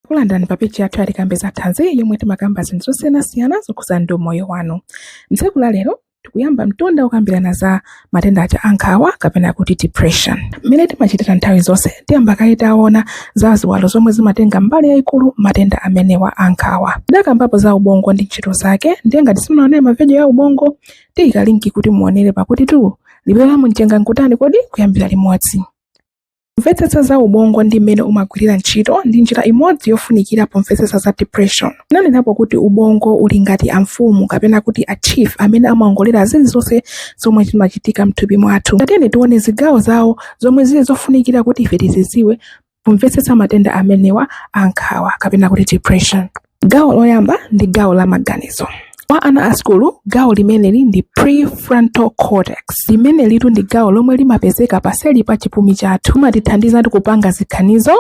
takulandirani pa peji yathu ya tikambe za thanzi yomwe timakamba zinthu zosiyanasiyana zokhudzana ndi umoyo wanu mtsiku la lero tikuyamba mtunda wokambirana za matenda aja a nkhawa kapena kuti depression mmene timachitira nthawi zonse tiyamba kaye taona za ziwalo zomwe zimatenga mbali yayikulu matenda amenewa a nkhawa tidakambapo za ubongo ndi ntchito zake ndiye ngati simunaonere mavidiyo a ubongo tiyika linki kuti muonere pakutitu liwiro la mumchenga nkutani kodi kuyambira limodzi Kumvetsetsa za ubongo ndi mmene umagwirira ntchito ndi njira imodzi yofunikira pomvetsetsa za depression. Tinanenapo kuti ubongo uli ngati amfumu kapena kuti a chief amene amaongolera zilizonse zomwe zimachitika m'thupi mwathu. Tatiyeni tione zigawozigawo zomwe zili zofunikira kuti ife tizidziwe pomvetsetsa matenda amenewa a nkhawa kapena kuti depression. Gawo loyamba ndi gawo la maganizo. Kwa ana a sukulu, gawo limeneli ndi prefrontal cortex. Limenelitu ndi gawo lomwe limapezeka paseli pa chipumi chathu. Limatithandizatu kupanga ziganizo,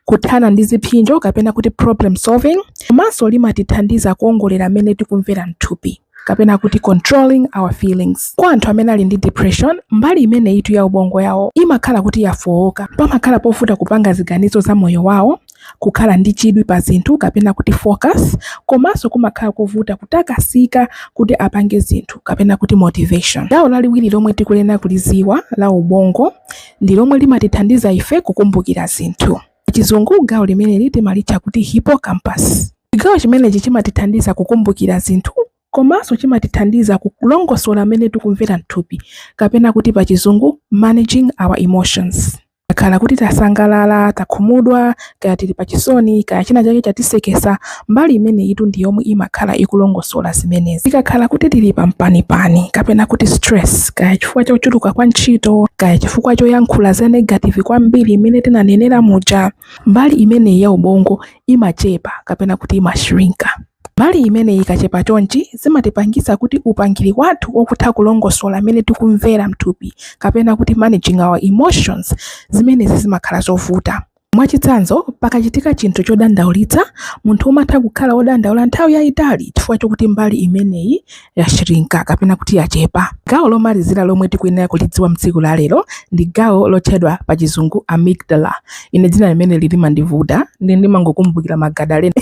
kuthana ndi ziphinjo kapena kuti problem solving, komanso limatithandiza kuongolera mmene tikumvera m'thupi. kapena kuti controlling our feelings. Kwa anthu amene ali ndi depression, mbali imeneyitu ya ubongo yawo imakhala kuti yafooka. Pamakhala povuta kupanga ziganizo za moyo wawo, kukhala ndi chidwi pa zinthu kapena kuti focus, komanso kumakhala kovuta kutakasika kuti apange zinthu kapena kuti motivation. Gawo laliwiri lomwe tikuyenera kulidziwa la ubongo ndi lomwe limatithandiza ife kukumbukira zinthu. Pachizungu, gawo limeneli timalitcha kuti hippocampus. Chigawo chimenechi chimatithandiza kukumbukira zinthu komanso chimatithandiza kulongosola mmene tikumvera m'thupi kapena kuti pachizungu, managing our emotions. Tikakhala kuti tasangalala, takhumudwa, kaya tili pachisoni, kaya chinachake chatisekesa, Mbali imeneyitu ndi yomwe imakhala ikulongosola zimenezi. Tikakhala kuti tili pa mpanipani kapena kuti stress, kaya chifukwa chochuluka kwa ntchito, kaya chifukwa choyankhula za negative kwambiri mmene tinanenera muja, mbali imeneyi ya ubongo imachepa kapena kuti imashrinka. Mbali imeneyi ikachepa chonchi, zimatipangitsa kuti upangiri wathu wokutha kulongosola mmene tikumvera m'thupi kapena kuti managing our emotions, zimenezi zimakhala zovuta. Mwachitsanzo, pakachitika chinthu chodandaulitsa, munthu umatha kukhala wodandaula nthawi yaitali chifukwa chokuti mbali imeneyi yashrinka kapena kuti yachepa. Gawo lomalizira lomwe tikuyenera kulidziwa m'tsiku la lero ndi gawo lotchedwa pachizungu amygdala. Ine dzina limeneli limandivuta nde ndimangokumbukira Magadalena.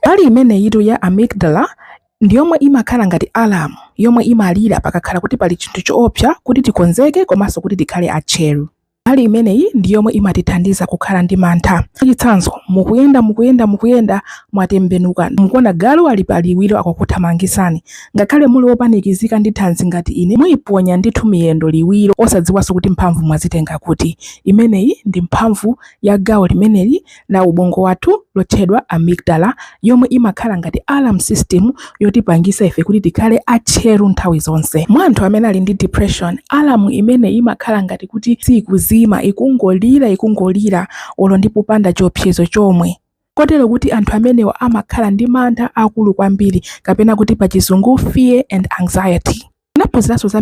Mbali imeneyitu ya amygdala ndi yomwe imakhala ngati alamu yomwe imalira pakakhala kuti pali chinthu choopsa kuti tikonzeke komanso kuti tikhale atcheru. Mbali imeneyi ndi yomwe imatithandiza kukhala ndi mantha. Mwachitsanzo, mukuyenda mukuyenda mukuyenda mwatembenuka, mukuona galu ali pa liwiro akukuthamangitsani. Ngakhale muli wopanikizika ndi thanzi ngati ine, muiponya ndithu miyendo liwiro osadziwanso kuti mphamvu mwazitenga kuti. Imeneyi ndi mphamvu ya gawo limeneli la ubongo wathu lotchedwa amygdala yomwe imakhala ngati alarm system yotipangisa ife kuti tikhale atcheru nthawi zonse mwa anthu amene ali ndi depression alarm imene imakhala ngati kuti siikuzima ikungolira ikungolira olo ndi popanda chiopsezo chomwe kotero kuti anthu amenewa amakhala ndi mantha akulu kwambiri kapena kuti pachizungu fear and anxiety ndinaphunziranso za